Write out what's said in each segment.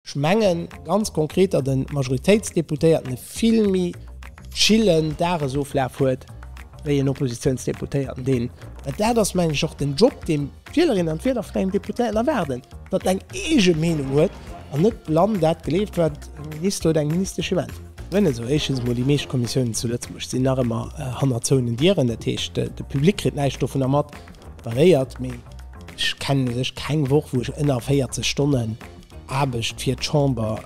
Ech mengen ganz konkret, datt e Majoritéitsdeputéierten e vill méi chillen Dagesoflaf huet wéi en Oppositionsdeputéierten, deen, well dat ass mengen ech och den Job, dee d'Wielerinnen an d'Wieler vun engem Deputéierten erwaarden, datt en eng eege Meenung huet an net blann dat gleeft, wat e Minister oder eng Ministesch him äntwert. Nun esou, éischtens emol, déi meescht Kommissiounen zu Lëtzebuerg sinn nach ëmmer hanner zouenen Dieren, dat heescht, de Public kritt näischt dovunner mat, dat eréiert. Mee ech kennen u sech keng Woch, wou ech ënner 40 Stonnen Aarbecht fir d'Chamber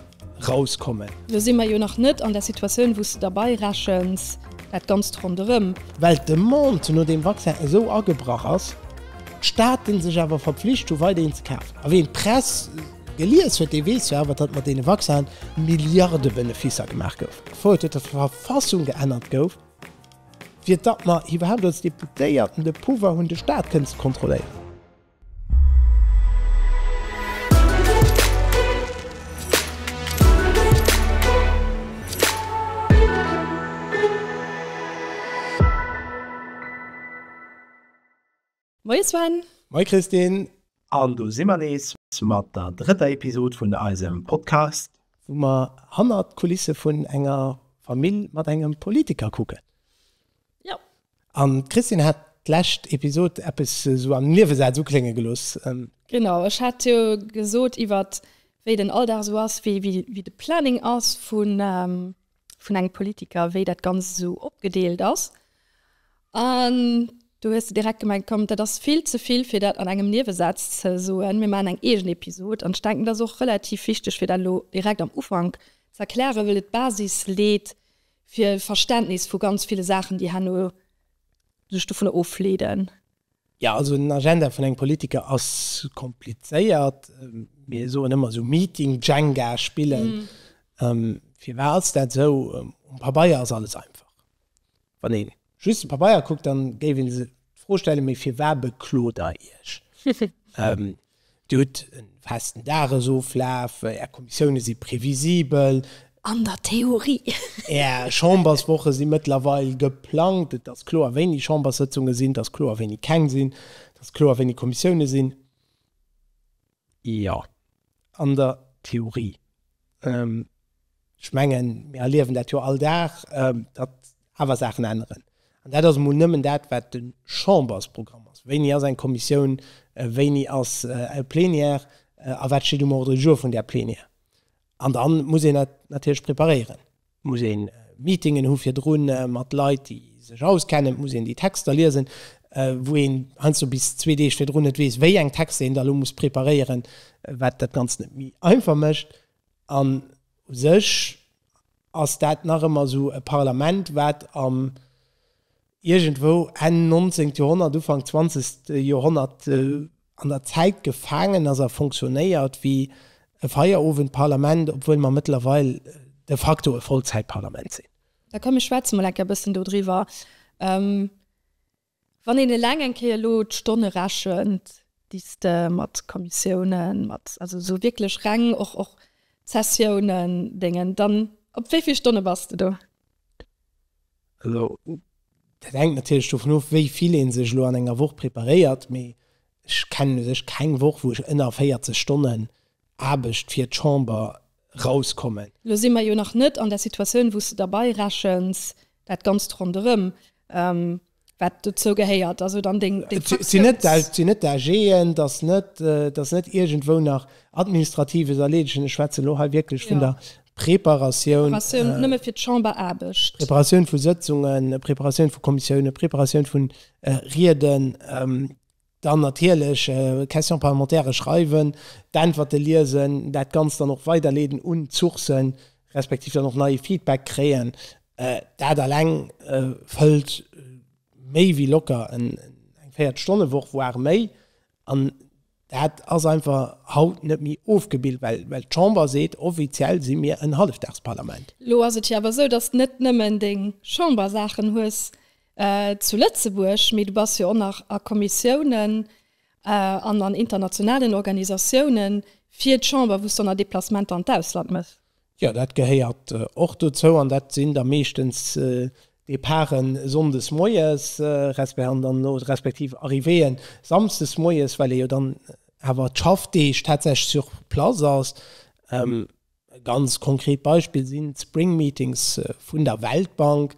rauskommen. Lo si mer jo nach net an der Situatioun, wou s de derbei rechens, dat Ganzt ronderëm. Well d'Demande no deem Vaccin esou agebrach ass, d'Staaten sech awer verpflicht hunn, weider een ze kafen. A ween d'Press gelies huet, dee weess jo awer, datt mat deene Vaccinen Milliarde Beneficer gemaach goufen, bevor et huet d'Verfassung geännert gouf, fir datt mer iwwerhaapt als Deputéierten de Pouvoir hunn, de Staat kënnen ze kontrolléieren. Moie Sven! Moie Christine! An do si mer nees mat der drëtter Episod vun eisem Podcast. Wou mer hannert d'Kulisse vun enger Famill mat engem Politiker kucken. Jo, An d'Christine hat d'lescht Episode eppes esou am Niewesaz uklénge gelooss. Genau, ech hat jo gesot iwwert wéi den Alldag esou ass, wéi de Planning ass vun engem Politiker, wéi dat Ganzt esou opgedeelt ass. An do hues de direkt gemengt, komm dat ass vill ze vill fir dat an engem Niewesaz ze soen, mir maachen eng eegen Episode. An ech denken dat ass och relativ wichteg fir dat elo direkt am Ufank ze erklären, well et d'Basis leet fir e Verständnis vu ganz ville Saachen, déi herno sech dovunner ofleeden. Jo, also en Agenda vun engem Politiker ass komplizéiert. Mir soen ëmmer esou Meeting Jenga spillen. Firwat ass dat esou? Um Pabeier ass alles einfach, wann ee just de Pabeier kuckt, dann géif een se d'Fro stellen, mee firwar bekloot der iech? Dir hutt e festen Dagesoflaf, är Kommissioune si previsibel. An der Theorie. Är Chamberswoche si mëttlerweil geplangt, et ass kloer wéini Chamberssëtzunge sinn, et ass kloer wéini keng sinn, et ass kloer wéini Kommissioune sinn. Jo, an der Theorie. Ech mengen, mir erliewen dat jo all Dag, datt awer Saachen änneren. An dat ass emol nëmmen dat, wat de Chambersprogramm ass. Wéini ass eng Kommissioun, wéini ass e Plenière a wat steet um Ordre du jour vun där Plenière? An da muss een dat natierlech preparéieren. Et muss ee Meetingen hu virdru mat Leit, déi sech auskennen. Et muss een déi Texter liesen, wou een heiansdo bis zwee Deeg virdrun net weess, wéi eng Texter een da elo muss preparéieren, wat dat Ganzt net méi einfach mécht. An u sech ass dat nach ëmmer esou e Parlament, wat am iergendwou Enn 19. Joerhonnert, Ufank 20. Joerhonnert an der Zäit gefaangen ass a fonctionnéiert wéi e Feierowendparlament, obwuel mer mëttlerweil de facto e Vollzäitparlament sinn. Da komm ech schwätze mol enk e bëssen dodriwwer. Wann een eleng eng Kéier elo d'Stonne rechent, déi s de mat Kommissiounen, mat, also esou wierklech reng och, och d'Sessiounen, déngen, dann op wéi vill Stonne bass de do? Elo, dat hänkt natierlech dovun of, wéi vill ee sech elo an enger Woch preparéiert, mee ech kennen u sech keng Woch, wou ech ënner 40 Stonnen Aarbecht fir d'Chamber rauskommen. Elo si mer jo nach net an der Situatioun, wou s de derbei rechens dat Ganzt ronderëm. Wat dozou gehéiert, also dann deng Fraktiouns. Et sinn net dat, et sinn net d'AGen, et ass net, et ass net iergendwou nach Administratives erleedegen. Ech schwätze elo hei wierklech vun der Preparatioun. Preparatioun nëmme fir d'Chamberaarbecht. Preparatioun vu Sëtzungen, Preparatioun vu Kommissiounen, Preparatioun vu Rieden. Dann natierlech Questions parlementaires schreiwen, d'Äntwerte liesen, dat Ganzt dann och weiderleeden un d'Sourcen, respektiv dann och neie Feedback kréien. Dat eleng fëllt méi wéi locker eng Véiertelstonnewoch, voire méi. An dat ass einfach haut net méi ofgebillt, well d'Chamber seet, offiziell si mir en Hallefdagsparlament. Elo ass et jo awer esou, dass d'nët nëmmen deng Chambersaachen hues, Zu Lëtzebuerg, mee du bass jo och nach a Kommissiounen an an internationalen Organisatiounen fir d'Chamber, wou s d'O na Deplacementer an d'Ausland mëss. Jo, dat gehéiert och dozou an dat sinn da meeschtens Departen sonndes moies respektiv Arrivéeën samsdes moies, well ee jo dann awer d'Schaffdeeg tatsächlech sur place ass. E ganz konkret Beispill sinn d'Spring Meetings vun der Weltbank.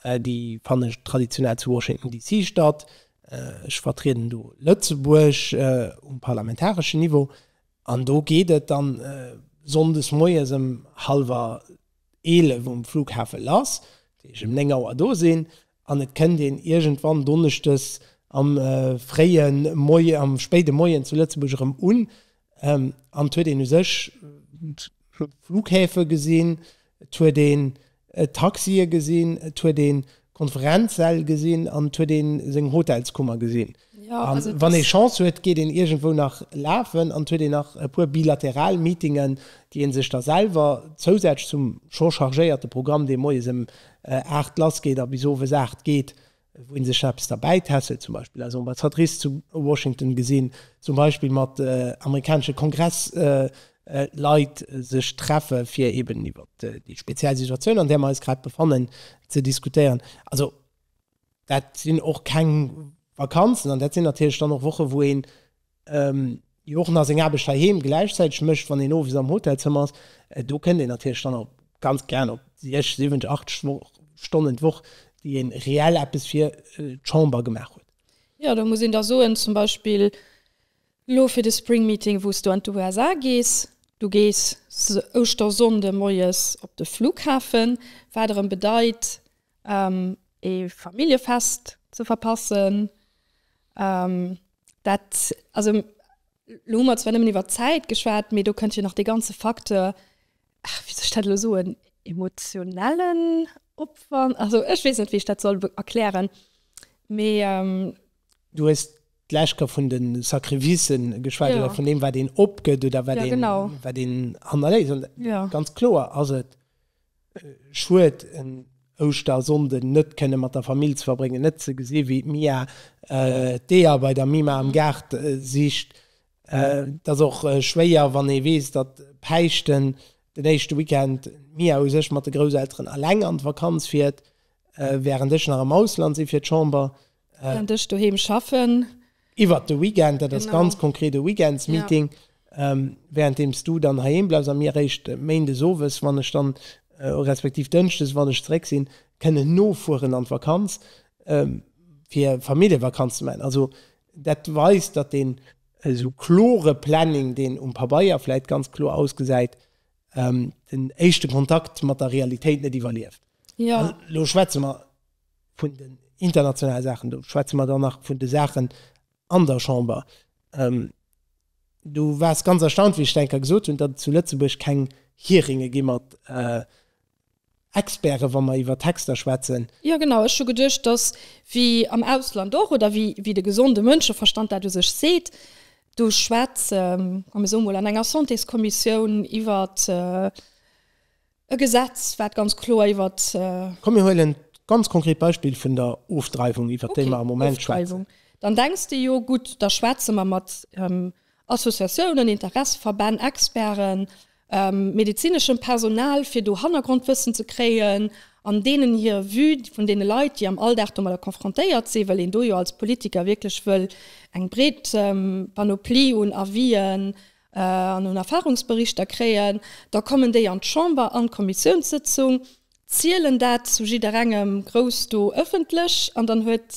Déi fannen traditionell zu Washington DC statt. Ech vertrieden do Lëtzebuerg um parlamentareschen Niveau an do geet et dann sonndes moies ëm hallwer eelef um Flughafe lass, wou ech ëm néng Auer do sinn An et kënnt een iergendwann donneschdes am fréie Moien, am spéide Moien zu Lëtzebuerg erëm un. An et huet een u sech Flughäfe gesinn, et huet een Taxie gesinn, et huet ee Konferenzsäll gesinn an et huet ee seng Hotelskummer gesinn. An wann ee Chance huet, geet een iergendwou nach lafen an et huet een nach e puer bilateral Meetingen, déi ee sech da selwer zousätzlech zum scho chargéierte Programm, dee moies ëm 8 lassgeet a bis owes 8 geet, wou ee sech nach eppes derbäi tässelt, zum Beispill eis Ambassadrice zu Washington gesinn, zum Beispill mat amerikanesche Kongressleit sech treffe fir eeben iwwert déi speziell Situatioun, an där mer eis grad befannen, ze diskutéieren. Also. dat sinn och keng Vakanzen an dat sinn natierlech dann och Woche wou een jo och nach seng Aarbecht heiheem gläichzäiteg mécht, wann een owes am Hotelzëmmer ass. Do kënnt een natierlech dann och ganz gären op siech, siwwent, acht Stonnen d'Woch, déi ee reell eppes fir d'Chamber gemaach huet. Jo, do muss een da soen, zum Beispill elo fir de Spring Meeting, wou s du an d'USA gees, du gees Ouschtersonnde moies op de Flughafen, wat erëm bedeit, ee Familljefest ze verpassen. Dat, also elo hu mer zwar nëmmen iwwer d'Zäit geschwat, mee do kënnt jo nach dee ganze Facteur, wéi soll ech dat elo soen, emotionellen Opwand, also ech weess net, wéi ech dat soll erklären, mee. Du hues d'lescht Kéier vun de Sacrificë geschwat oder vun deem, wat een opgëtt oder wat een hannerléisst. Ganz kloer ass et, Schued en Ouschtersonnden net kënne mat der Famill ze verbréngen, net ze gesi wéi d'Mia d'Eeër bei der Mima am Gaart sicht. Et ass och schwéier wann ee weess, datt Päischten den éischte Weekend d'Mia u sech mat de Grousselteren eleng an d'Vakanz fiert, wärend ech nach am Ausland si fir d'Chamber. Kent ech doheem schaffen. Iwwert de Weekend, dat ass ganz konkret e Weekendsmeeting, wärenddeems du dann heiheem bleifs a mir eréischt méindes owes, wann ech dann, respektiv dënschdes, wann ech zeréck sinn, kënnen nofueren an d'Vakanz, fir Familljevakanz ze maachen. Also dat weist, datt deen esou klore Planning, deen um Pabeier vläit ganz kloer ausgesäit, den éischte Kontakt mat der Realitéit net iwwerlieft. An elo schwätze mer. vun den internationale Saachen, do schwätze mer dann nach vun de Saachen an der Chamber, du waars ganz erstaunt, wéi ech d'enker gesot hunn, datt et zu Lëtzebuerg keng Hearinge gi mat Experten, wa mer iwwer Texter schwätzen. Jo, genau, ech hu geduecht, datt wéi am Ausland och, oder wéi de gesonde Mënscheverstand dat u sech seet, do schwätze mer, soe mol, an enger Santéskommissioun iwwer E Gesetz, wat ganz kloer iwwert. Komm mir huelen d'ganz konkret Beispill vun der Ofdreiwung, iwwert déi mer am Moment schwätzen. Okay, Ofdreiwung. Dann denks de, jo gutt, da schwätze mer mat Associatiounen, Interesseverbänn, Experten, medezineschem Personal, fir do Hannergrondwëssen ze kréien an deenen hir Vue vun deene Leit, déi am Alldag domadder konfrontéiert sinn, well een do jo als Politiker wierklech wëll eng breet Panoplie un Avisen an un Erfahrungsberichter kréien, da kommen déi an d'Chamber an d'Kommissiounssëtzung, zielen dat zu jidderengem grouss do ëffentlech an dann huet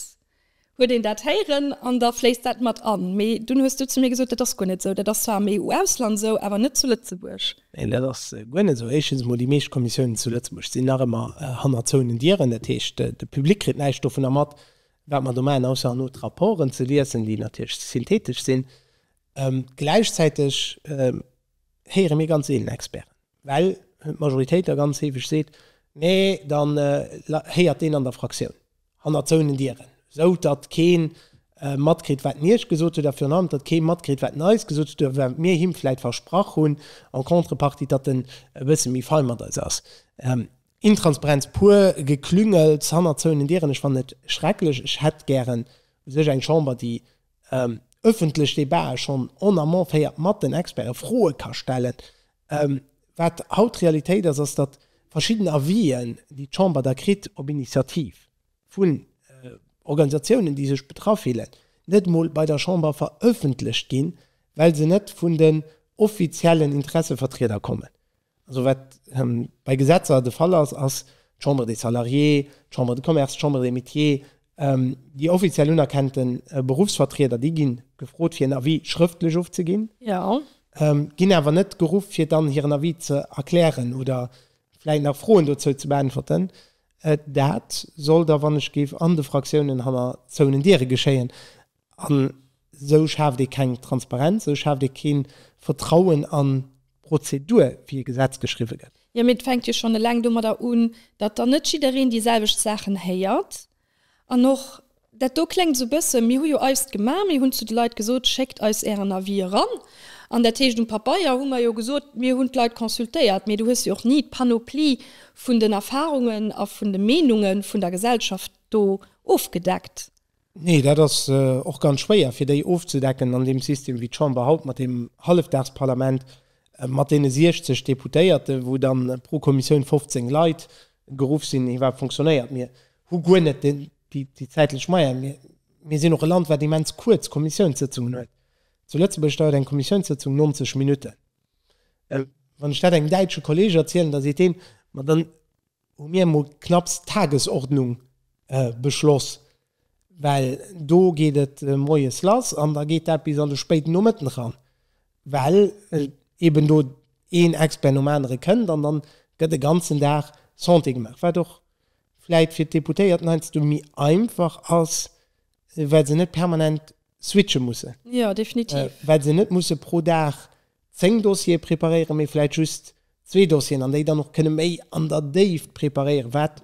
huet een dat héieren an da fléisst dat mat an. Mee dunn hues du zu mir gesot, dat ass guer net esou, dat ass zwar am EU-Ausland esou, awer net zu Lëtzebuerg. Neen, dat ass guer net esou. Éischtens emol, déi meescht Kommissiounen zu Lëtzebuerg sinn nach ëmmer hanner zouenen Dieren. Dat heescht, de Public kritt näischt dovunner mat, wat mer do maachen, ausser an haut d'Rapporten ze liesen, déi natierlech synthetesch sinn. Gläichzäiteg héiere mir ganz seelen Experten, well d'Majoritéit da ganz heefeg seet, nee dann héiert deen an der Fraktioun hannert zouenen Dieren, esou datt kee matkritt wat en Iech gesot huet a virun allem datt kee matkritt wat en eis gesot huet oder wat mir him vläit versprach hunn en contrepartie, datt en e bësse méi fein mat eis ass. Intransparenz pur, Geklüngels hannert zouenen Dieren, ech fannen et schrecklech. Ech hätt gären u sech eng Chamber déi en ëffentlech Debate schonn en amont féiert, mat den Experte Froe ka stellen. Wat haut d'Realitéit ass, ass, datt verschidden Avis'en, déi d'Chamber da kritt op Initiativ vun Organisatiounen, déi sech betraff fillen, net emol bei der Chamber verëffentlecht ginn, well se net vun den offiziellen Interessevertrieder kommen. Also wat bei Gesetzer de Fall ass, ass d'Chambre des Salariés, d'Chambre de Commerce, d'Chambre des Métiers, déi offiziell unerkennte Beruffsvertrieder, déi gi gefrot fir en Avis schrëftlech ofzeginn, ginn awer net geruff fir dann hiren Avis ze erklären oder vläit nach Froen dozou ze beäntwerten. Dat soll da, wann ech géif, an de Fraktiounen hanner zouenen Diere geschéien. An esou schaaft ee keng Transparenz, esou schaaft ee kee Vertrauen an d'Prozedur, wéi e Gesetz geschriwwe gëtt. Jo, mee et fänkt jo schonn eleng domadder un, datt dann net jiddereen déi selwecht Saachen héiert. An och dat do kléngt esou e bësse, mir hu jo eist gemaach, mir hunn zu de Leit gesot, schéckt eis ären Avis eran. An dat heescht, um Pabeier hu mer jo gesot, mir hunn d'Leit consultéiert, mee du hues jo och ni d'Panoplie vun den Erfarungen a vun de Meenunge vun der Gesellschaft do ofgedeckt. Nee, dat ass och ganz schwéier, fir déi ofzedecken an deem System, wéi d'Chamber haut mat deem Hallefdagsparlament, mat deene 60 Deputéierte, wou da pro Kommissioun 15 Leit geruff sinn, iwwerhaapt fonctionnéiert. Mir hu guer net déi zäitlech Moyene. Mir, mir sinn och e Land, wat immens kuerz Kommissiounssëtzungen huet. Zu Lëtzebuerg dauert eng Kommissiounssëtzung 90 Minutten. Wann ech dat engem däitsche Kolleeg erzielen, da seet deen, Ma dann hu mir emol knapps d'Tagesordnung beschloss, well do geet et moies lass an da geet dat bis an de spéiden Nomëtten eran, well eeben do een Expert nom anere kënnt an dann gëtt e ganzen Dag Santé gemaach, wat och vläit fir d'Deputéierten heiansdo méi einfach ass, well se net permanent switche mussen. Ja, definitiv. Well se net musse pro Dag zéng Dossiere preparéieren, mee vläicht just zwee Dossieren an déi dann och kënne méi an der Déift preparéieren, wat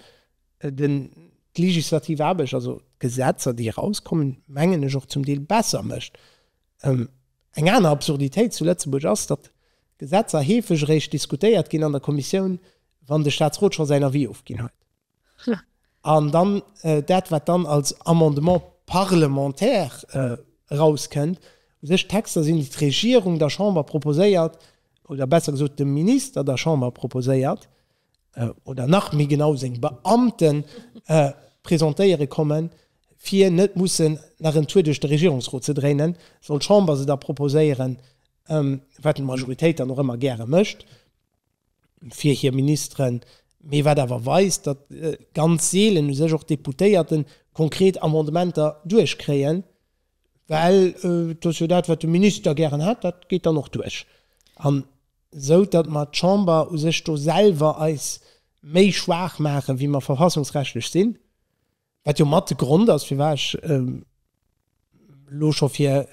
den, d'legislativ Aarbecht, also d'Gesetzer, déi erauskommen, mengen ech, och zum Deel besser mécht. Eng aner Absurditéit zu Lëtzebuerg ass, datt Gesetzer heefeg eréischt diskutéiert ginn an der Kommissioun, wann de Statsrot scho säin Avis ofginn huet. An dann dat, wat dann als Amendement parlementaire erauskënnt, u sech Texter sinn, déi d'Regierung der Chamber proposéiert, oder besser gesot dem Minister der Chamber proposéiert, oder nach méi genau seng Beamte presentéiere kommen, fir net mussen nach en Tour duerch de Regierungsrot ze dréinen, soll d'Chamber se da proposéieren, wat d'Majoritéit dann och ëmmer gäre mécht. fir hir Ministeren, mee wat awer weist, datt ganz seelen u sech och d'Deputéierte konkret Amendementer duerchkréien, well et ass jo dat, wat de Minister gären hätt, dat geet dann och duerch. An esou datt mer d'Chamber u sech do selwer eis méi schwaach maachen, wéi mer verfassungsrechtlech sinn. Wat jo mat de Grond ass, firwat ech elo scho fir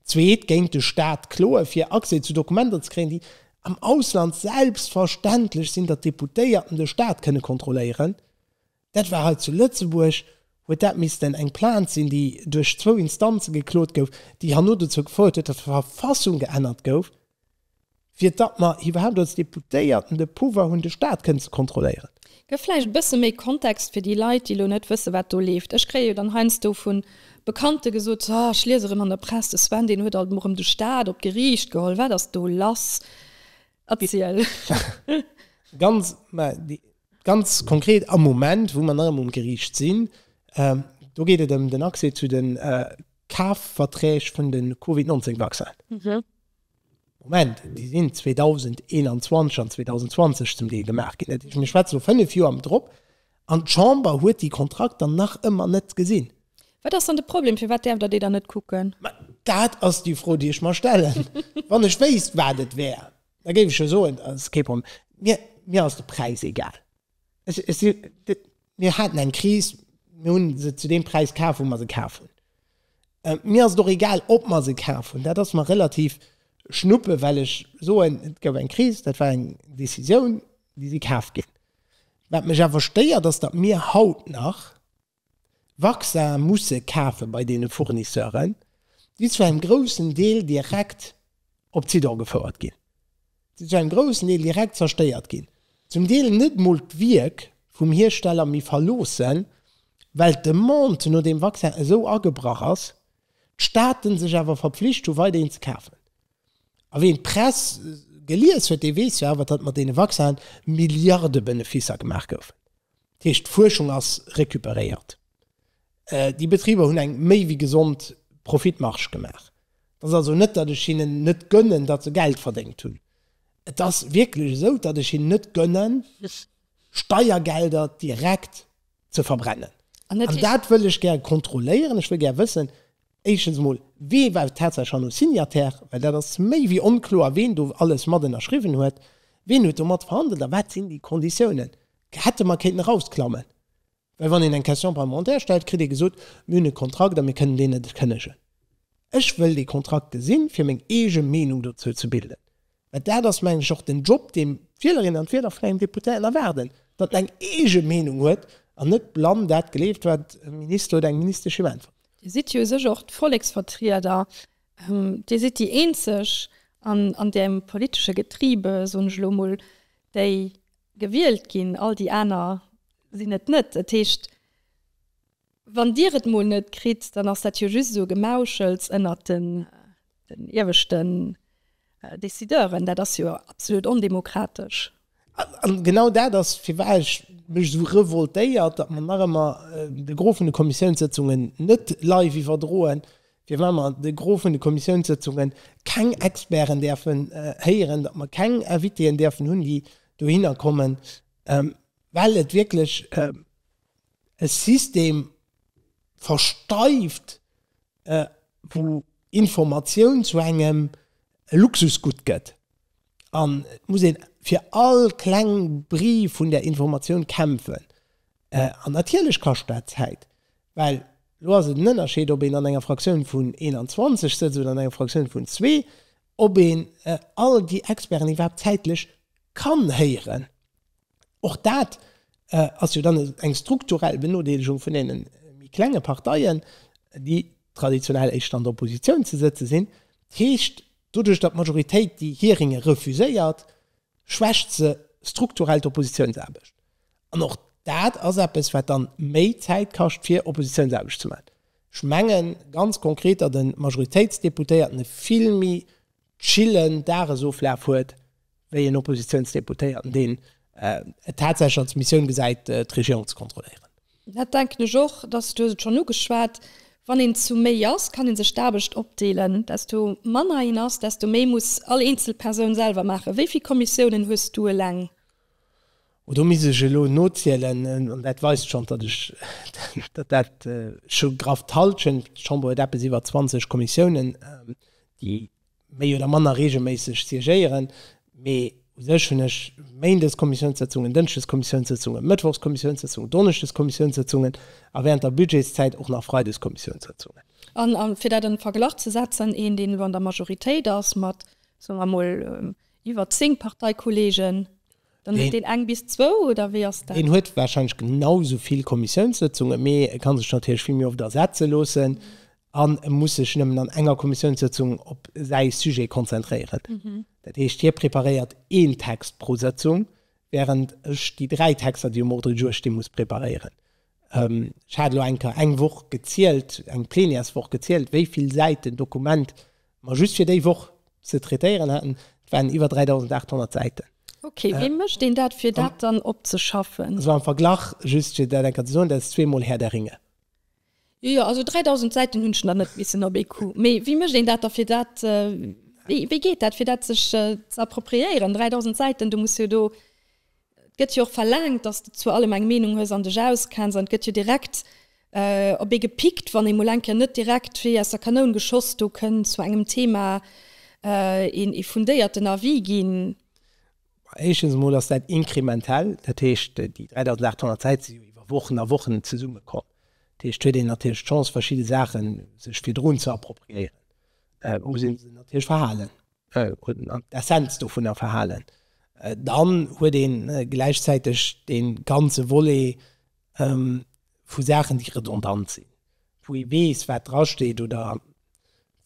d'zweet géint de Stat kloen, fir Accès zu Dokumenter ze kréien, déi am Ausland selbstverständlech sinn, datt d'Deputéierten de Stat kënne kontrolléieren. Dat war hei zu Lëtzebuerg, huet dat missten eng Plainte sinn, déi duerch zwou Instanze geklot gouf, déi herno dozou gefouert huet, datt d'Verfassung geännert gouf. fir datt mer iwwerhaapt als Deputéierten de Pouvoir hunn, de Stat kënnen ze kontrolléieren. Gëff vläicht e bësse méi Kontext fir déi Leit, déi elo net wëssen, wat do leeft. Ech kréie jo dann heiansdo vu Bekannte gesot, So, ech lies erëm an der Press, de Sven, deen huet alt emol erëm de Stat op d'Geriicht geholl. Wat ass do lass? Erziel. Ganz, mä ganz konkret am Moment, wou mer nach ëmmer um Geriicht sinn, do geet et ëm den Accès zu de Kafverträg vun de Covid-19-Vaccinen. Moment, déi sinn 2021 an 2020 zum Deel gemaach ginn. Dat heescht, mir schwätze vu fënnef Joer drop. An d'Chamber huet déi Kontrakter nach ëmmer net gesinn. Wat ass dann de Problem? Firwat däerft Der déi dann net kucken? Ma dat ass déi Fro, déi ech mer stellen. Wann ech wéisst, wat et wär, da géif ech jo soen, dat ass kee Problem. Mir ass de Präis egal. Mir haten eng Kris, mir hunn se zu deem Präis kaf, wou mer se kaf hunn. Mir ass et och egal, ob mer se kaf hunn, dat ass mer relativ schnuppe, well ech soen, et gouf eng Kris, dat war eng Décisioun, déi si kaf ginn. Wat mech awer stéiert, ass, datt mir haut nach Vaccin musse kafe bei deene Fournisseuren, déi zu engem groussen Deel direkt op Zidong gefouert ginn, déi zu engem groussen Deel direkt zerstéiert ginn, zum Deel net emol d'Wierk vum Hiersteller méi verloossen, well d'Demande no deem Vaccin esou agebrach ass, d'Staaten sech awer verpflicht hunn, weiderhin ze kafen. A wien d'Press gelies huet, dee weess jo awer, datt mat deene Vaccinen Milliarde-Beneficer gemaach goufen. Dat heescht, d'Fuerschung ass recuperéiert. Déi Betriber hunn eng méi wéi gesond Profitmarge gemaach. Et ass also net, datt ech hinnen net gönnen, datt se Geld verdéngt hunn. Et ass wierklech esou, datt ech hinnen net gönnen, Steiergelder direkt ze verbrennen. An dat wëll ech gär kontrolléieren. Ech wëll gär wëssen, Éischtens emol, Wee war tatsächlech hanno Signataire? Well dat ass méi wéi onkloer, ween do alles mat ënnerschriwwen huet. Ween huet do mat verhandelt a wat sinn déi Konditiounen? Hätte mer kéinten erausklammen. Well wann een eng Question parlementaire stellt, kritt ee gesot, Mir hunn e Kontrakt a mir kënnen deen net kënnegen. Ech wëll dee Kontrakt gesinn, fir meng eege Meenung dozou ze bilden. Mä dat ass, mengen ech, och den Job, dee d'Wielerinnen an d'Wieler vun engem Deputéierten erwaarden, datt en eng eege Meenung huet an net blann dat gleeft, wat e Minister oder eng Ministesch him äntwert. Dir sidd jo u sech och d'Volleksvertrieder. Dir sidd déi Eenzeg an deem politesche Getriebe, soen ech elo emol, déi gewielt ginn. All déi aner sinn et net. Dat heescht, Wann Dir et mol net kritt, dann ass dat jo just esou e Gemauschels ënnert den ieweschten Decideuren. Dat ass jo absolut ondemokratesch. A genau dat ass, firwat ech mech esou revoltéiert, datt mer nach ëmmer de Gros vun de Kommissiounssëtzungen net live iwwerdroen, firwat mer de Gros vun de Kommissiounssëtzunge keng Experten däerfen héieren, datt mer keng Invitéen däerfen hunn, déi dohinner kommen, well et wierklech, E System versteift, wou Informatioun zu engem Luxusgutt gëtt, an et muss een fir all kleng Bri vun där Informatioun kämpfen. An natierlech kascht dat Zäit, well elo ass et en Ënnerscheed, ob een an enger Fraktioun vun 21 sëtzt oder an enger Fraktioun vun zwee, ob een all déi Experten iwwerhaapt zäitlech kann héieren. Och dat ass jo dann eng strukturell Benodeelegung vun deene méi klenge Parteien, déi traditionell éischter an der Oppositioun ze sëtze sinn. Dat heescht, doduerch datt d'Majoritéit déi Hearinge refuséiert, schwächt se strukturell d'Oppositiounsaarbecht. An och dat ass eppes, wat dann méi Zäit kascht, fir Oppositiounsaarbecht ze maachen. Ech mengen ganz konkret, datt e Majoritéitsdeputéierten e vill méi chillen Dagesoflaf huet wéi en Oppositiounsdeputéierten, deen et tatsächlech als Missioun gesäit, d'Regierung ze kontrolléieren. Dat denken ech och, dass, du hues et schonn ugeschwat, wann een zu méi ass, kann ee sech d'Aarbecht opdeelen. Desto manner een ass, desto méi muss all eenzel Persoun selwer maachen. Wéi vill Kommissiounen hues du eleng? Oh, do misst ech elo nozielen. An dat weist schonn, datt ech, datt dat scho graff d'Hallschent sinn. D'Chamber huet eppes iwwer 20 Kommissiounen, déi méi oder manner reegelméisseg siégéieren. Mee u sech hunn ech méindes Kommissiounssëtzungen, dënschdes Kommissiounssëtzungen, mëttwochs Kommissiounssëtzungen, donneschdes Kommissiounssëtzungen a wärend der Budgetszäit och nach freides Kommissiounssëtzungen. A fir dat an Verglach ze setzen, Een, deen elo an der Majoritéit ass mat, soe mer emol, iwwer zéng Parteikolleegen, Dann huet deen eng bis zwou, oder wéi ass dat? Deen huet warscheinlech genau sou vill Kommissiounssëtzungen, mee e ka sech natierlech vill méi oft ersetze loossen an e muss sech nëmmen an enger Kommissiounssëtzung op säi Sujet konzentréieren. Dat heescht, hie preparéiert een Text pro Sëtzung, während ech déi dräi Texter, déi um Ordre du jour stinn, muss preparéieren. Ech hat elo eng Kéier eng Woch gezielt, eng Plenièreswoch gezielt, wéi vill Säiten Dokument Ma just fir déi Woch ze traitéieren haten, et waren iwwer 3.800 Säiten. Ok, wéi mécht een dat, fir dat dann opzeschaffen? Also am Verglach, just fir dat eng Kéier ze soen, dat ass zweemol Herr der Ringe. Jo, jo, also 3.000 Säiten hunn ech nach net missen op ee Coup. Mee wéi mécht een dat da, fir dat, wéi geet dat, fir dat sech ze appropriéieren? 3.000 Säiten, du muss jo do. Et gëtt jo och verlaangt, dass de zu allem eng Meenung hues an dech auskenns. An et gëtt jo direkt op ee gepickt, wann ee mol eng Kéier net direkt wéi aus der Kanoun geschoss do kënn zu engem Thema een ee fundéierten Avis ginn. Éischtens emol ass dat inkrementell. Dat heescht, déi 3.800 Säit si jo iwwer Wochen a Wochen zesummekomm. Dat heescht, huet een natierlech d'Chance, verschidde Saache sech virdrun ze appropriéieren, muss ee se natierlech verhalen. un an d'Essenz dovunner verhalen, dann huet ee gläichzäiteg dee ganze Volet vu Saachen, déi redondant sinn, wou ee weess, wat drasteet oder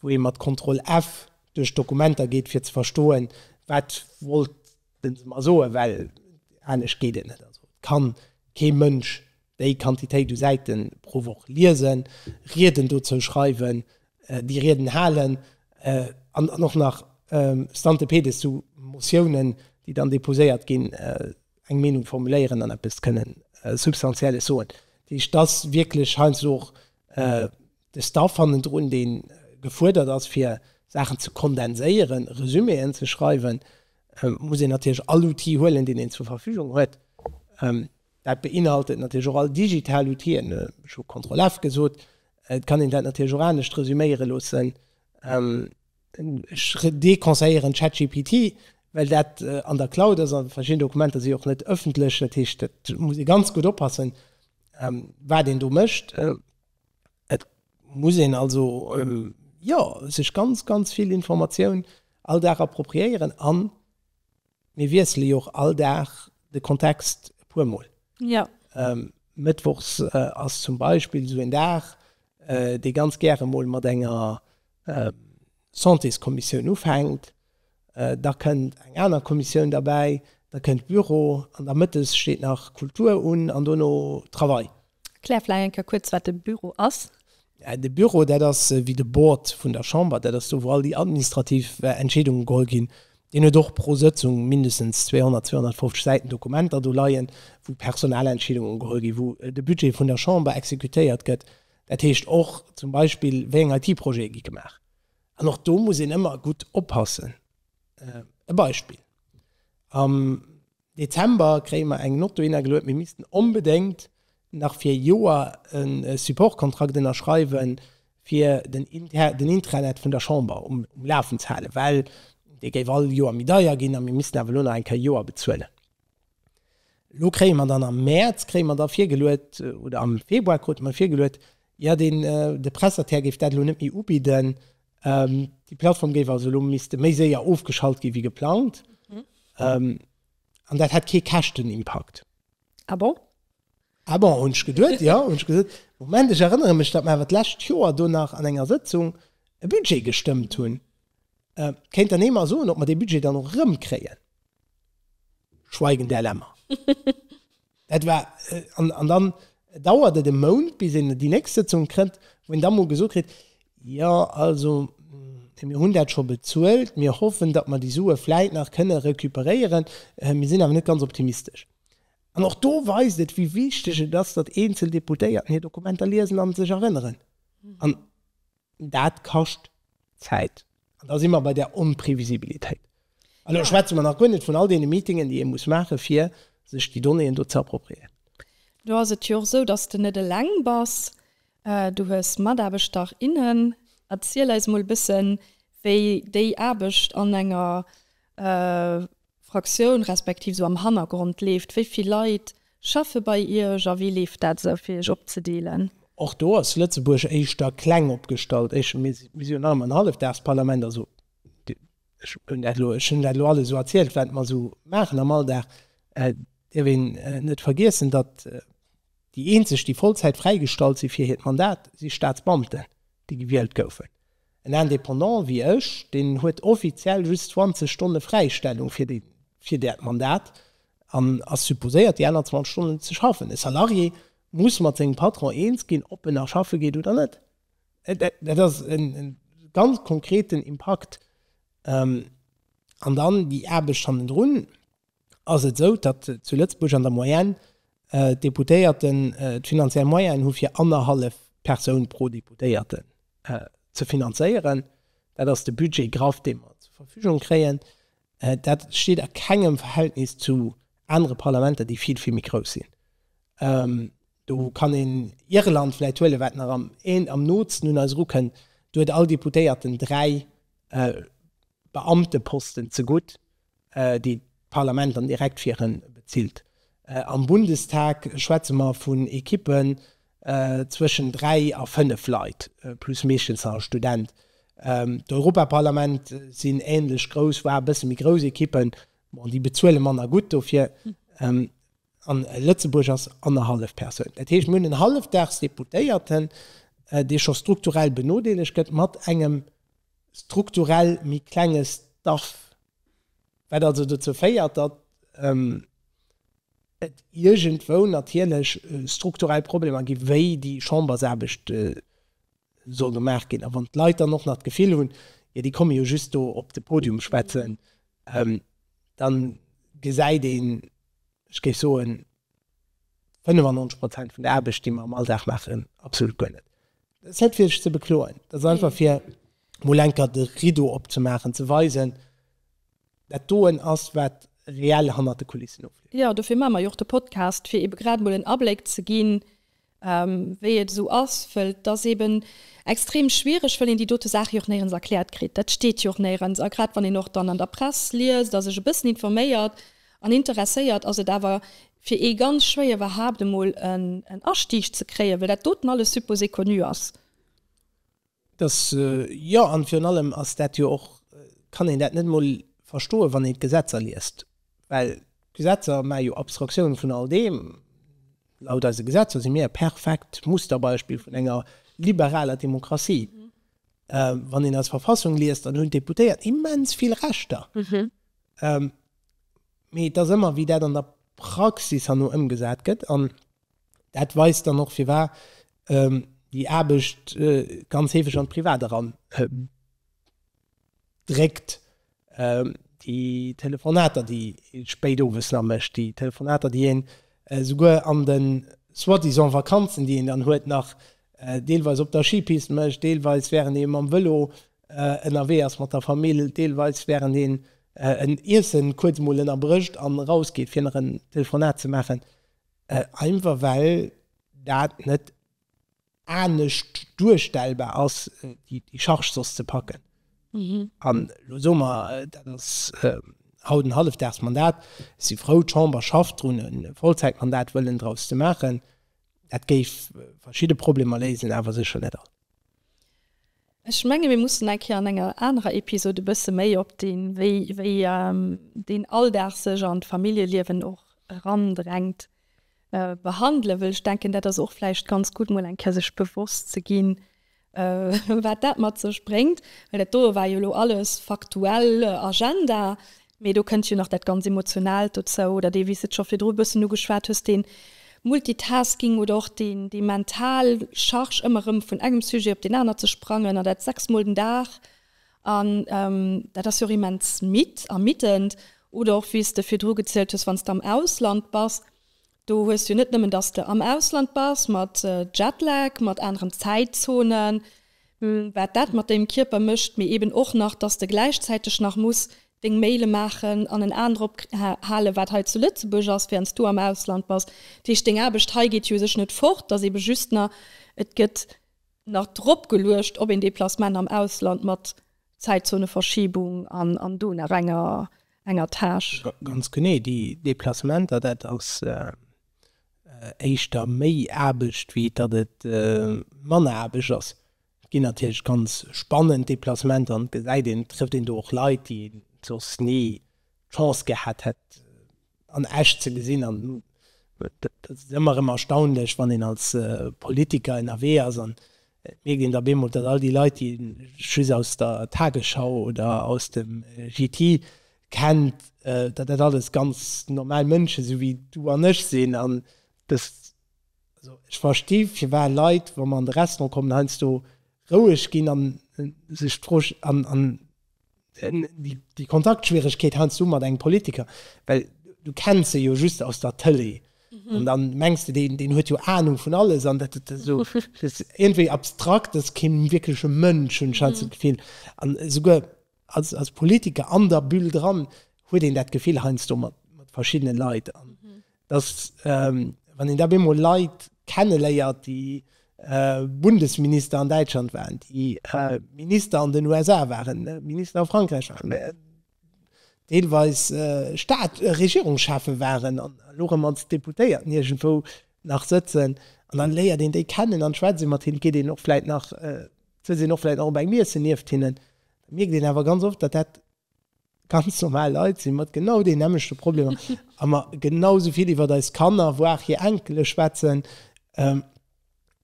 wou ee mat Contrôle F duerch d'Dokumenter geet, fir ze verstoen, wat wollten se mer soen, well anescht geet et net. Also, et ka kee Mënsch déi Quantitéit u Säiten pro Woch liesen, Rieden dozou schreiwen, déi Rieden halen an och nach stante pede zu Motiounen, déi dann deposéiert ginn, eng Meenung formuléieren an eppes kënnen Substantielles soen. Dat heescht, et ass wierklech heiansdo och de Staff hannendrun, dee gefuerdert ass, fir Saachen ze kondenséieren, Resüméeën ze schreiwen. Et muss een natierlech all Outil huelen, deen een zur Verfügung huet. Dat beinhaltet natierlech och all digital Outien. Ech hu Contrôle F gesot. Et kann een dat natierlech och anescht resüméiere loossen. Ech deconseilléieren ChatGPT, well dat an der Cloud ass a verschidden Dokumenter si och net ëffentlech. Dat heescht, et muss ee ganz gutt oppassen, wat een do mécht. Et muss een also, jo, sech ganz, ganz vill Informatioun all Dag appropriéieren an Mir wiessele jo och all Dag de Kontext e puer Mol. Jo. Mëttwochs ass zum Beispill esou een Dag, dee ganz gäre mol mat enger Santéskommissioun ufänkt, da kënnt eng aner Kommissioun derbäi, da kënnt Büro an da mëttes steet nach Kultur un an dono Travail. Klär vläicht eng Kéier kuerz, wat de Büro ass. De Büro, dat ass wéi de Board vun der Chamber. Dat ass do, wou all déi administrativ Entscheedunge geholl ginn. Deen huet och pro Sëtzung mindestens 200, 250 Säiten Dokumenter do leien, wou personell Entscheedunge geholl ginn, wou de Budget vun der Chamber exekutéiert gëtt. Dat heescht och zum Beispill, wéi eng IT-Projete gi gemaach. An och do muss een ëmmer gutt oppassen. E Beispill, Am Dezember kréie mer eng Nott dohinner geluet, mir missten onbedéngt nach fir e Joer e Supportkontrakt ënnerschreiwen, fir den Intranet vun der Chamber um Lafen ze halen, well dee géif all Joer méi deier ginn a mir missten awer elo nach eng Kéier e Joer bezuelen. Elo kréie mer dann am Mäerz kréie mer da virgeluet, oder am Februar krute mer virgeluet, jo, de Prestataire géif dat elo net méi ubidden, Déi Plattform géif also elo misste méi séier ofgeschalt gi wéi geplangt an dat hätt kee Käschtenimpakt. Ah bon? Ah bon, hunn ech geduet, jo. Hunn ech gesot, Moment, ech erënnere mech, datt mer awer d'lescht Joer do nach an enger Sëtzung e Budget gestëmmt hunn. Kéint dann ee mer soen, ob mer dee Budget dann och erëmkréien? Schweigen der Lämmer. Dat war, an dann dauert et e Mount, bis een déi nächst Sëtzung kritt, wou een da mol gesot kritt, Jo, also mir hunn dat scho bezuelt, mir hoffen, datt mer déi Sue vläit nach kënne recuperéieren, mir sinn awer net ganz optimistesch. An och do weist et, wéi wichteg et ass, datt eenzel Deputéierten hir Dokumenter liesen a sech erënneren. Dat kascht Zäit. An da si mer bei där Onprevisibilitéit. An elo schwätze mer nach guer net vun all deene Meetingen, déi ee muss maachen, fir sech déi Donnéeën do ze appropriéieren. Lo ass et jo och esou, datt s de net eleng bass. Du hues Mataarbechter, innen. Erziel eis emol e bëssen, wéi déi Aarbecht an enger Fraktioun, respektiv sou am Hannergrond leeft? Wéi vill Leit schaffe bei Iech a wéi leeft dat esou, fir Iech opzedeelen? Och do ass Lëtzebuerg éischter kleng opgestallt. Ech, mir si, mir si jo nach ëmmer en Hallefdagsparlament, also ech hunn dat elo, ech hunn dat elo alles esou erzielt, wat mer esou maachen am Alldag. Et dierf een net vergiessen, datt déi eenzeg, déi Vollzäit fräigestallt si fir hiert Mandat, si Staatsbeamten, déi gewielt goufen. En Indépendant wéi ech, deen huet offiziell just 20 Stonne Fräistellung fir dat Mandat an ass supposéiert, déi aner 20 Stonnen ze schaffen. E Salarié muss mat sengem Patron eens ginn, ob en nach schaffe geet oder net. Dat ass e ganz konkreten Impakt. An dann déi Aarbecht hannendrun. ass et esou, datt zu Lëtzebuerg an der Moyenne d'Deputéierten d'finanziell Moyenen hu fir annerhallef Persoun pro Deputéierten ze finanzéieren. Dat ass de Budget graff, dee mer zur Verfügung kréien. Dat steet a kengem Verhältnis zu anere Parlamenter, déi vill, vill méi grouss sinn. Do kann een Irland vläicht huelen, wat nach am am nootsten un eis erukënnt. Do huet all Deputéierten dräi Beamteposten zegutt, déi d'Parlament dann direkt fir en bezilt. Am Bundestag schwätze mer vun Ekippen zwëschen dräi a fënnef Leit, plus meeschtens nach e Student. D'Europaparlament sinn ähnlech grouss, voire e bësse méi grouss Ekippen, bon déi bezuele manner gutt dofir, an Lëtzebuerg ass annerhallef Persoun. Dat heescht, mir hunn en hallefdags Deputéierten, dee scho strukturell benodeelegt gëtt, mat engem strukturell méi klenge Staff. Wat also dozou féiert, datt et iergendwou natierlech strukturell Problemer gi wéi déi Chambersaarbecht soll gemaach ginn. A wann d'Leit dann och nach d'Gefill hunn, jo déi komme jo just do op de Podium schwätzen, da gesäit een, ech géif soen, 95 Prozent vun der Aarbecht, déi mer am Alldag maachen, absolut guer net. Dat ass net fir sech ze bekloen, dat ass einfach fir mol enker de Rideau opzemaachen, ze weisen, dat doen ass, wat reell hannert de Kulissen ofleeft. Jo, dofir maache mer jo och de Podcast, fir ebe grad mol en Abléck ze ginn, wéi et esou ass, wëll et ass eben extrem schwiereg, wëll een déi dote Saache jo och néierens erkläert kritt. Dat steet jo och néierens. A grad wann een och dann an der Press liest a sech e bëssen informéiert an interesséiert, ass et awer fir ee ganz schwéier iwwerhaapt emol en Astieg ze kréien, wëll dat doten alles supposé connu ass. Dass, jo, an virun allem ass dat jo och, kann een dat net emol verstoen, wann een d'Gesetzer liest, well d'Gesetzer maache jo Abstraktioun vun all deem. Laut eise Gesetzer si mir e perfekt Musterbeispill vun enger liberaler Demokratie. Wann een eis Verfassung liest, dann hunn d'Deputéiert immens vill Rechter, mee et ass ëmmer, wéi dat an der Praxis herno ëmgesat gëtt. An Dat weist dann och firwar déi Aarbecht ganz heefeg an d'Privat eran dréckt, déi Telefonater déi ee spéit owes nach mécht, déi Telefonater déi een esouguer an de soi-disant Vakanzen déi een dann huet nach deelweis op der Schipist mécht, deelweis wärend ee mam Vëlo ënnerwee ass mat der Famill, deelweis wärend een en Iessen kuerz emol ënnerbrécht an erausgeet fir nach en Telefonat ze maachen. Einfach well dat net anescht duerstellbar ass, déi Charge soss ze packen. An elo soe mer, dat ass haut en Hallefdagsmandat, ech si frou, d'Chamber schafft drun, e Vollzäitmandat wëllen draus ze maachen. Dat géif verschidde Problemer léisen, awer sécher net all. Ech menge mir mussen eng Kéier an enger anerer Episod e bësse méi op deen, wéi, wéi deen Alldag sech an d'Familljeliewen och erandrängt, behandelen, wëll ech denken, dat ass och vläicht ganz gutt, mol eng Kéier sech bewosst ze ginn, wat dat mat sech bréngt. Well dat doe war jo elo alles faktuell Agenda. Mee do kënnt jo nach dat ganz Emotionaalt dozou, oder dee, wéi s de et scho virdru e bëssen ugeschwat hues, dee Multitasking oder och déi mental Charge, ëmmer erëm vun engem Sujet op deen aner ze sprangen, an dat sechs Mol den Dag. An dat ass jo och immens midd, ermiddend. Oder och, wéi s de virdru gezielt hues, wann s de am Ausland bass, Do hues du net nëmmen, dass de am Ausland bass, mat Jetlag, mat aneren Zäitzonen, wat dat mat dengem Kierper mécht, mee eben och nach, dass de gläichzäiteg nach muss deng Maile maachen an en Aen drop halen, wat hei zu Lëtzebuerg ass, während s du am Ausland bass. Dat heescht, deng Aarbecht hei geet jo u sech net fort, et ass eben just nach, et gëtt nach drop geluecht op een Déplacement am Ausland mat Zäitzoneverschiebung an do nach enger Tâche. Ganz genee, déi Deplacementer, dat ass éischter méi Aarbecht, wéi datt et manner Aarbecht ass. Et ginn natierlech ganz spannend Deplacementer an et gesäit een, et trëfft een do och Leit, déi een soss ni d'Chance gehat hätt, an echt ze gesinn an dat ass ëmmer erëm erstaunlech wann een als Politiker ënnerwee ass an et mierkt een da bemol datt all déi Leit déi een just aus der Tagesschau oder aus dem JT kennt, datt dat alles ganz normal Mënschen esou wéi du an ech sinn an dës, also ech versti firwat Leit wa mer an de Restaurant kommen heiansdo roueg ginn an sech d'Fro an Déi Kontaktschwieregkeet heiansdo mat engem Politiker, well du kenns se jo just aus der Tëlee an da mengs de, deen huet jo Anung vun alles an dat esou iergendwéi abstrakt, dat ass kee wierkleche Mënsch, hunn ech heiansdo d'Gefill. An esouguer als Politiker an der Bulle dran huet een dat Gefill heiansdo mat verschiddene Leit. dass, wann een da bemol Leit kenneléiert, déi Bundesminister an Däitschland waren, déi Minister an den USA waren, Minister a Frankräich waren, deelweis Staats-, Regierungschefe waren an elo erëm als Deputéierten iergendwou nach sëtzen, an dann léiert een déi kennen an schwätzt ee mat hinnen, geet een och vläit nach, sëtzt een och vläit nach op engem Iessen nieft hinnen, da mierkt een awer ganz oft, datt dat Ganz normal Leit si mat genau den nämmlechte Problemer a mer genau sou vill iwwert eis Kanner, voire hir Enkele schwätzen,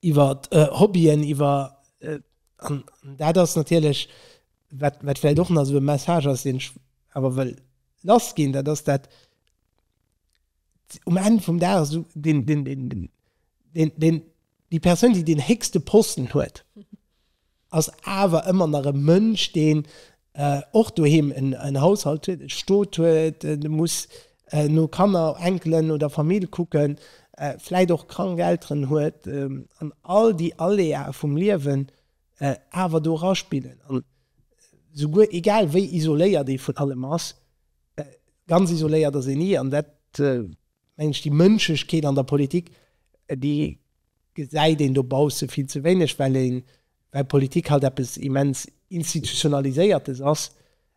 iwwer Hobbyen, iwwer, an dat ass natierlech wat vläicht och nach esou e Message ass, deen ech awer wëll lass ginn, dat ass dat um Enn vum Dag esou deen, deen, déi Persoun, déi deen héchste Posten huet, ass awer ëmmer nach e Mënsch, deen och doheem en Haushalt huet, e Stot huet, e muss no Kanner, Enkelen oder Famill kucken, vläit och krank Elteren huet an all déi Aléae vum Liewen awer do eraspillen. An souguer egal wéi isoléiert ee vun allem ass, ganz isoléiert ass een ni an dat mengen ech déi Mënschlechkeet an der Politik, déi gesäit een dobausse vill ze wéineg, well een, well Politik halt eppes immens Institutionaliséiertes ass,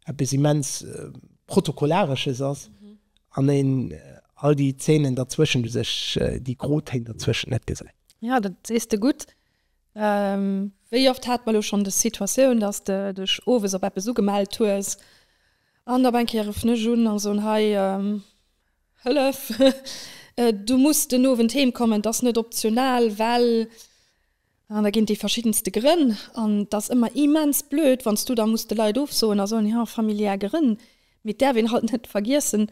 eppes immens Protokollaresches ass an een all déi Zänen derzwëschent, u sech déi Grotéin derzwëschent net gesäit. Jo, dat sees de gutt. Wéi oft hate mer elo schonn des Situatioun, dass de dech owes op eppes ugemellt hues an op eng Kéier ruffen ech un a soen, Hei, Hëllef! Du muss den Owend heem kommen, 't ass net optional, well. An da ginn déi verschiddenste Grënn an. 't ass ëmmer immens blöd, wann s du da muss de Leit ofsoen a soen, jo, familiär Grënn. Mee 't däerf een halt net vergiessen,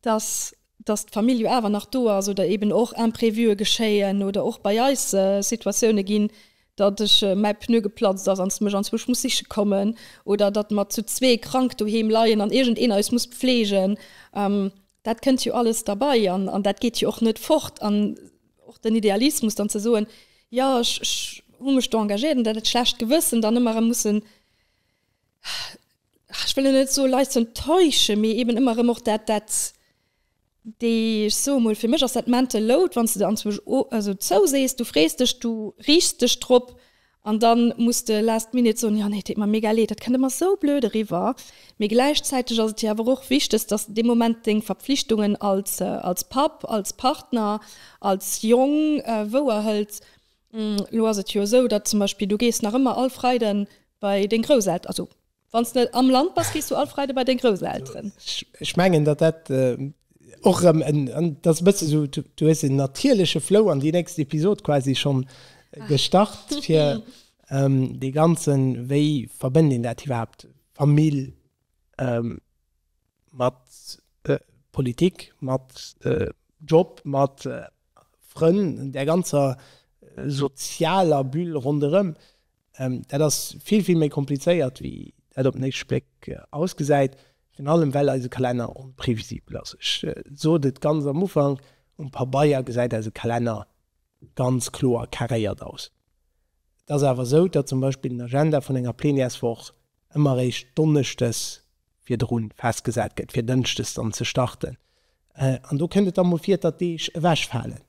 dass, dass d'Famill jo awer nach do ass oder eeben och Imprévue geschéien oder och bei eis Situatioune ginn, datt ech mäi Pneu geplatzt ass an s mech anzwusch muss siche kommen oder datt mer zu zwee krank doheem leien an iergend een eis muss pfleegen, dat kënnt jo alles derbei an dat geet jo och net fort. An och den Idealismus dann ze soen, jo ech ech hu mech do engagéiert an dat dat schlecht Gewëssen dann ëmmer erëm mussen, ech wëll elo net soe Leit ze enttäusche mee eben ëmmer erëm och dat dat Déi, ech soe mol, fir mech ass dat mental load, wann s de der anzwousch o, also zou sees, du frees dech, du riichs dech drop an da muss de last minute soen, jo nee, et deet mer mega leed. Dat kënnt ëmmer sou blöd eriwwer, mee gläichzäiteg ass et jo awer och wichteg, dass de dee Moment deng Verpflichtungen als, als Papp, als Partner, als Jong wouer hëls. Elo ass et jo esou, datt zum Beispill du gees nach ëmmer all Freiden bei deng Grousselteren, also Wann s net am Land bass, gees du all Freide bei deng Grousselteren. Ech mengen, datt dat och erëm en, dat ass e bësse sou, du hues en natierleche Flow an déi nächst Episod quasi schonn gestart, fir dee ganzen, wéi verbënnt een dat iwwerhaapt, Famill mat Politik, mat Job, mat Frënn, der ganzer sozialer Bulle ronderëm. Dat ass vill, vill méi komplizéiert, wéi dat op den éischte Bléck ausgesäit, virun allem well eise Kalenner onprevisibel ass. Ech sot et ganz am Ufank, Um Pabeier gesäit eise Kalenner ganz kloer carréiert aus. Et ass awer esou, datt zum Beispill den Agenda vun enger Plenièreswoch ëmmer eréischt donneschdes virdrun festgesat gëtt, fir dënschdes dann ze starten. An do kënnt et da mol vir, datt Deeg ewechfalen.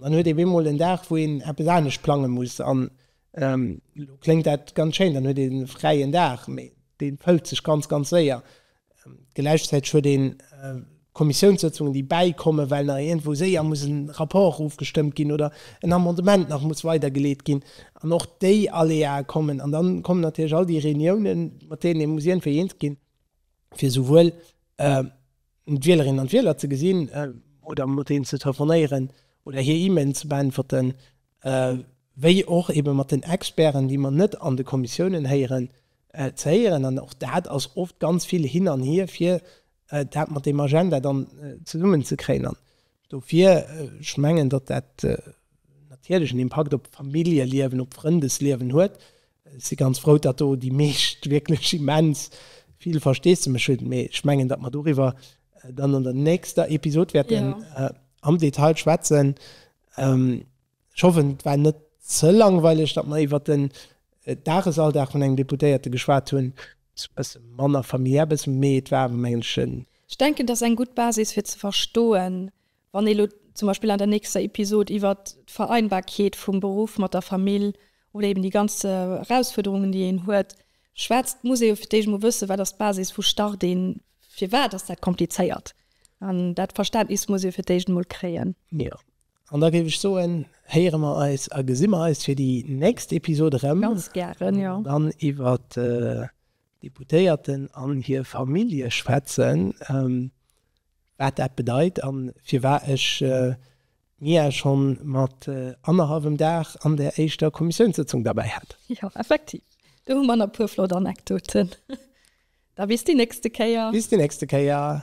Dann huet ee bemol en Dag, wou een eppes anescht plange muss. An elo kléngt dat ganz schéin, dann huet een e fräien Dag, mee dee fëllt sech ganz, ganz séier. Gläichzäiteg huet een Kommissiounssëtzungen, déi bäikommen, well nach iergendwou séier muss en Rapport ofgestëmmt ginn oder en Amendement nach muss weidergeleet ginn, an och déi Aléae kommen. An dann kommen natierlech all déi Reuniounen, mat deenen ee muss iergendwéi eens ginn, fir souwuel d'Wielerinnen an d'Wieler ze gesinn oder mat deenen ze telefonéieren oder hir E-Mailen ze beäntwerten. wéi och eebe mat den Experten, déi mer net an de Kommissiounen héieren, ze héieren. An och dat ass oft ganz vill hin an hier, fir dat mat deem Agenda dann zesummen ze kréien. An dofir, ech mengen, datt dat natierlech en Impakt op d'Familljeliewen, op d'Frëndesliewen huet. Ech si ganz frou, datt do déi meescht wierklech immens vill Versteesdemech hunn. Mee ech mengen, datt mer doriwwer dann an der nächster Episod wäerten am Detail schwätzen. Ech hoffen, et war net ze langweileg, datt mer iwwert den Dagesalldag vun engem Deputéierte geschwat hunn. E bësse manner familiär, e bësse méi, et war awer, mengen ech, en. Ech denken, et ass eng gutt Basis, fir ze verstoen, wann ee lo zum Beispill an der nächster Episod iwwert d'Vereinbarkeet vum Beruff mat der Famill oder eeben déi ganz Erausfuerderungen, déi een huet, Schwätzt d'Museo fir d'éischt emol wëssen, wat ass d'Basis vu Start een, firwat ass dat komplizéiert, an dat Verständnis muss ee fir d'éischt emol kréien. Jo, an da géif ech soen, héiere mer eis a gesi mer eis fir déi nächst Episode erëm. Ganz gären, jo. Dann iwwert d'Deputéierten an hir Famillje schwätzen, wat dat bedeit an firwat ech Mia schonn mat annerhallwem Dag an der éischter Kommissiounssëtzung derbäi hat. Jo, effektiv, do hu mer nach e puer flott Anekdoten. Da bis déi nächste Kéier. Bis déi nächste Kéier.